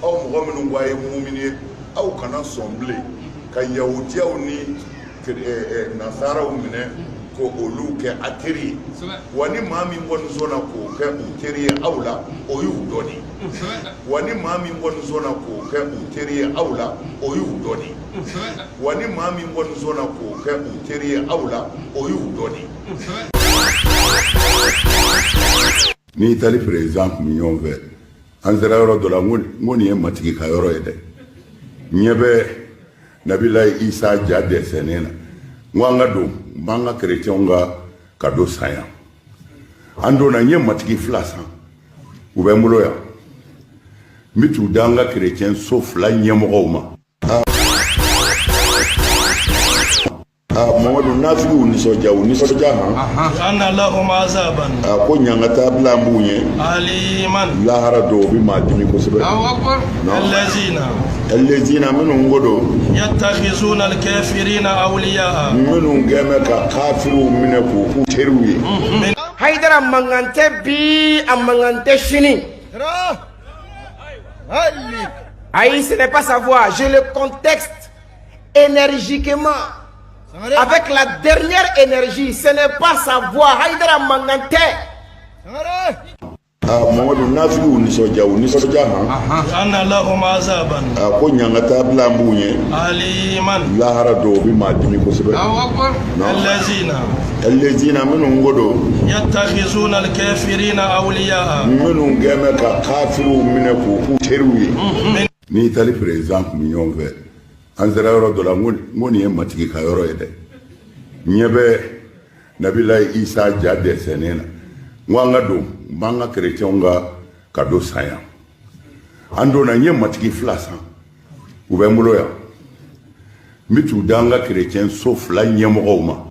aw mɔgɔ minnu ko a ye mumini ye aw kana sɔn bilen ka yahudiyaw ni eh, eh, nasaraw minɛ ko olu kɛ a teri ye wa ni maa min kɔni sɔnna k'o kɛ u teri ye aw la o y'u dɔ de wa ni maa min kɔni sɔnna k'o kɛ u teri ye aw la o y'u dɔ de wa ni maa min kɔni sɔnna k'o kɛ u teri ye aw la o y'u dɔ de ni itali perezidan tun bɛ ɲɔgɔn fɛ an sera yɔrɔ dɔ la n ko nin ye matigi ka yɔrɔ ye dɛ n ɲɛ bɛ nabilayi isa ja dɛsɛnen na n ko an ka don n b'an ka kerecɛnw ka kado san yan an donna n ye matigi fila san u bɛ n bolo yan n bɛ t'u d'an ka kerecɛn so fila ɲɛmɔgɔw ma mamadu nafigiw nisɔndiya u nisɔndiya ma anna lahum azaban a ko ɲangata bilalen b'u ye aliman lahara dɔw bɛ maa dimi kosɛbɛ allazina allazina minnu ko don yattakhizuna alkafirina awliya minnu gɛmɛ ka kafiriw minɛ k'u k'u teriw ye haidara mankan tɛ bi a mankan tɛ sini ayi ce n'est pas sa voix je le conteste énergiquement avec la dernière énergie ce n'est pas sa voix Haïdara mankan tɛ ah, Mamadu nafigiw nisɔndiya u nisɔndiya han anna lahum azaban a ah, ko ɲangata bilalen b'u ɲɛ aliman lahara dɔw bi maa dimi kosɛbɛ allazina allazina minnu ko don yattakhizuna alkafirina awliya minnu gɛmɛ ka kafiriw minɛ k'u k'u teriw ye Ni Italie président tun bɛ ɲɔgɔn fɛ, an sera yɔrɔ dɔ la, n ko nin ye matigi ka yɔrɔ ye dɛ, n ɲɛ bɛ Nabilayi Isa ja dɛsɛnen na, n ko an ka don, n b'an ka chrétiens ka cadeau san yan, an donna, n ye matigi fila san, u bɛ n bolo yan, n bɛ t'u di an ka chrétien so fila ɲɛmɔgɔw ma.